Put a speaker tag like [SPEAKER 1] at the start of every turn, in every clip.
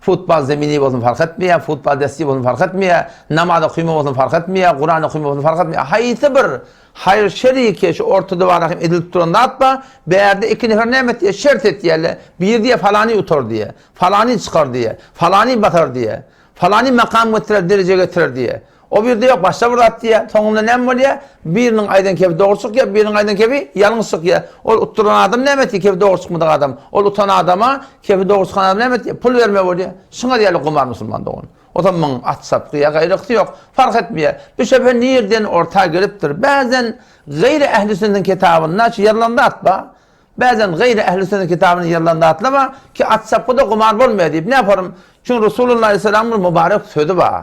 [SPEAKER 1] Futbal zemini bolsun fark etmeýär, futbal desgi bolsun fark etmeýär, namaz okyma bolsun fark etmeýär, Kuran okyma bolsun fark etmeýär. Haýsy bir haýyr-şer ýeke şu orta diwara hem edilip duran zat bar, bärde iki nefer näme etýär, şert etýärler, biri diýýär falany utar diýýär, falany çykar diýýär, falany basar diýýär, falany makam getirer, dereje getirer diýýär. O birde ýok, başda bir zat diýýär, soňunda näme bolýar? Biriniň aýdan kebi dogry çykýar, biriniň aýdan kebi ýalňyş çykýar. Ol utdurylan adam näme etdi? Kebi dogry çykmadyk adam. Ol utan adama kebi dogry çykan adam näme etdi? Pul bermeli bolýar. Şuňar ýaly gumar musulman dogan. Otam muň at çapgy ýa gaýrysy ýok, parh etmeýär. Bu şübhe nirden orta gelipdir? Bäzen gaýry ähli sünnetiň kitabynda şu ýazylan zat bar. Bäzen gaýry ähli sünnetiň kitabynda ýazylan zatlar bar ki, at çapgy-da gumar bolmaýar diýip. Näparym? Çünki Resulullah aleyhisselamyň bir mubarek sözi bar.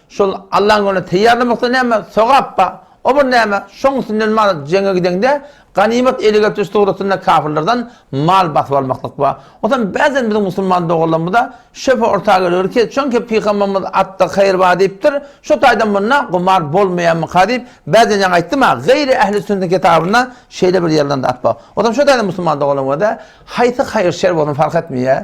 [SPEAKER 1] Şol Allaň ýoluna teýýarlamakda näme sogap bar? O bir näme? Şoň üstünden bar, jeňe gideňde, ganymat ele getiriş suratynda kapyrlardan mal basyp almaklyk bar. Onsoň bäzen biziň musulman doganlarymyza şöbhe orta gelebilir ki, çünki Pygamberimiz Atda haýyr bar diýipdir, şo taýdan munda gumar bolmaýarmyka diýip, bäzen ýaňy aýtdym-a, Gaýry ähli sünnet kitabynda şeýle bir ýerlerinde at bar. Onsoň şo taýdan musulman doganlarymyza haýsy haýyr-şer bolsun fark etmeýär,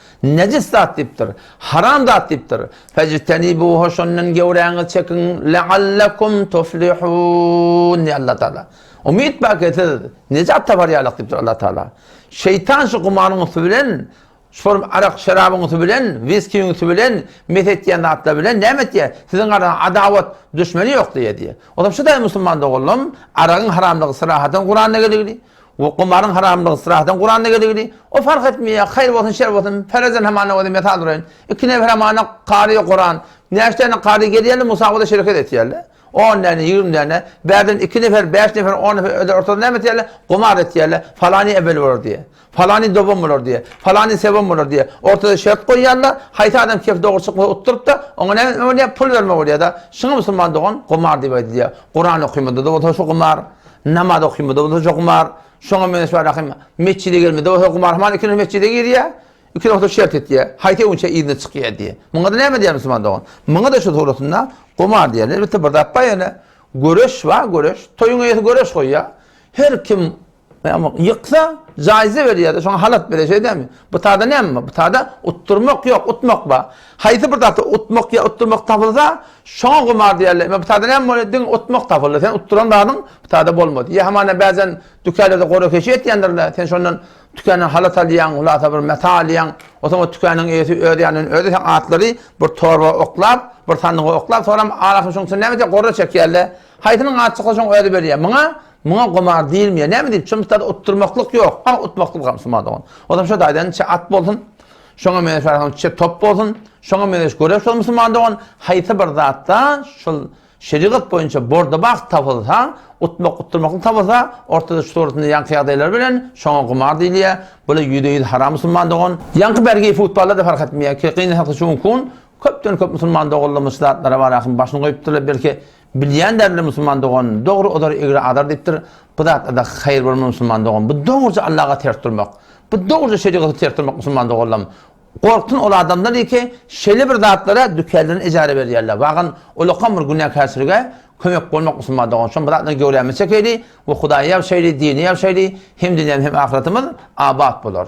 [SPEAKER 1] Nejis zat diýipdir. Haram zat diýipdir. Fejtenibuha şondan göwräňizi çekiň, leallekum tuflihun diýýär Allah Taala. Umyt bar ki siz nejat tapar ýalyk diýipdir Allah Taala. Şeýtan şu gumaryň üsti bilen, şol arak şerabyň üsti bilen, wiskiň üsti bilen, mes etýän zatlar bilen näme etýär? Siziň araňyzda adawat, duşmeni ýok diýýär diýýär. Onsoň şuday musulman doganlarym, aragyň haramlygy syrahadan Kuranda geligini, We gumaryň haramlygy syrahdan Kuranda geligidi. O fark etmeýär, haýyr bolsun, şer bolsun, perezen hamana özüm mesal duraýyn. Iki nefer hamana kary ýok Kuran. Näçe däne kary gelýärler musabagada şereket etýärler. On däne, ýigrimi däne. Bärden iki nefer, bäş nefer, on nefer öler ortada näme etýärler? Gumar etýärler. Falany ebel bolar diýe. Falany dogan bolar diýe. Falany sewan bolar diýe. Ortada şert goýýarlar. Haýsy adam kef dogry çykmasa utdurypda, oňa näme etme bolýar? Pul berme bolýada. Şuňa musulman dogan gumar diýip aýdylýar. Kuran okymada-da bolsa şu gumar. Namaz okyňda bolsa gumar, şoňa meňzeş ahim metjide gelmede bolsa gumar, hamana iki reket metjide girýär, iki rekat şert etýär, haýsy öňçe yzyna çykýar diýýär. Muňa-da näme diýer musulman dogan? Muňa-da şu tugrasynda gumar diýer. Elbetde bir zat bar ýene, göreş bar, göreş. Toýuň eýesi göreş goýýar. Her kim ýyksa, jaýza berýär-de, şoňa halat berýär, şeýdämi? Bu taýda näme bar? Bu taýda utdurmak ýok, utmak bar. Haýsy bir zat utmak ýa utdurmak tapylsa, şoňa gumar diýerler. Ime, bitada näme bolýar? Diňe utmak tapyldy. Sen utduran zadyň bitada bolmady. Ýa hamana bäzen dükäde-de gora-keşi etýändir-le, sen şondan tükändan halat alýaň, hulasa bir meta alýaň. Onsoň o tükäniniň eýesi öz ýanyndan özi sen atlary bir torba oklap, bir sandyga oklap, soram arasyny şonuň içine näme etýär? Gorra çekýär-le. Haýsynyň aty çyksa, şoňa özi berýär. Muňa, muňa gumar diýilmeýär. Näme diýip? Şonuň bitada utdurmaklyk ýok. Hany utmaklyk gamsy, ma dogan. Ozam şo daýzanyň içi at bolsun. Şoňa meňeş bar hany çek top bolsun, şoňa meňeş göre şol musulman dogan haýsy bir zatda şol şerigat boýunça bordabak tapylsa, utmak utdurmaklyk tapylsa, ortada şu suratynda ýaňky ýagdaýlar bilen şoňa gumar diýilýär, bula ýüzde ýüz haram musulman dogan. Ýaňky bergi futballa-da fark etmeýär, kynlasa şu gün köpden köp musulman doganlarymyz şu zatlara bar ahym başyny goýupdyrlar belki Bilýän däl bile musulman dogan dogry ozar egri azar diýipdir bu zatlarda haýyr bolmaz musulman dogan bu dogruja Allaga ters durmak bu dogruja şerigaty ters durmak musulman doganlam gorksun ol adamlar diýki şeýle bir zatlara dükänlerini ejara berýärler wagyn ulakam bir günäkärçilige kömek bolmak musulman dogan şom bir zatdan göwrämiz çekeýli we hudaýy ýagşaýly dini ýagşaýly hem dünýämiz hem ahyratymyz abat bolar.